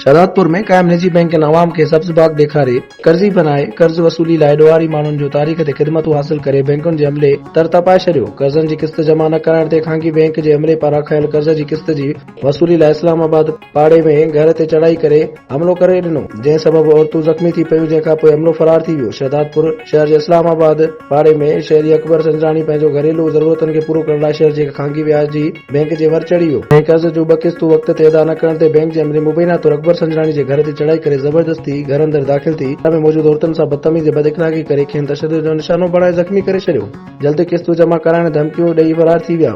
شهدادپور ۾ قائم نجي بئنڪن عوام کي سبز باغ ڏيکاري قرضي بنائي قرض وصولي لاء ڏوهاري ماڻهن جو تاريخ تي خدمتون حاصل ڪري بئنڪن جي عملي تر تپائي ڇڏيو قرضن جي قسط جمع نه ڪرائڻ تي خانگي بئنڪ جي عملي پاران کنيل قرض جي قسط جي وصولي لاء اسلام آباد پاڙي ۾ گهر تي چڙهائي ڪري حملو ڪري ڏنو جنهن سبب عورتون زخمي ٿي پيون جنهن کانپوء حملو فرار ٿي ويو شهدادپور شهر جي اسلام آباد پاڙي ۾ شهري اڪبر سنجراڻي پنهنجو گهريلو ضرورتن کي پورو ڪرڻ لاء شهر جي هڪ خانگي وياج جي بئنڪ جي ور چڙهي ويو ۽ قرض جون ٻه قسطون وقت تي ادا نه ڪرڻ تي بئنڪ جي عملي مبينا طور اڪبر سنجراڻي جي گهر تي چڙهائي ڪري زبردستي گهر اندر داخل ٿي گهر ۾ موجود عورتن سان بدتميزي بد اخلاقي ڪري کين تشدد جو نشانو بڻائي زخمي ڪري ڇڏيو جلد قسطون جمع ڪرائڻ ڌمڪيون ڏئي فرار ٿي ويا.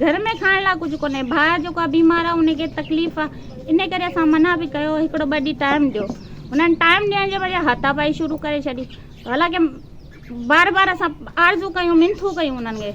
گهر ۾ کائڻ لاء ڪجهه ڪونهي ڀاء جيڪو آ بيمار آ ان کي تڪليف آ ان ڪري اسان منع به ڪيو هڪڙو ٻه ڏينهن ٽائيم ڏيو انهن ٽائيم ڏيڻ جي بجاء هاٿا پائي شروع ڪري ڇڏي حالانڪه بار بار اسان آرزو ڪيون منٿون ڪيون انهن کي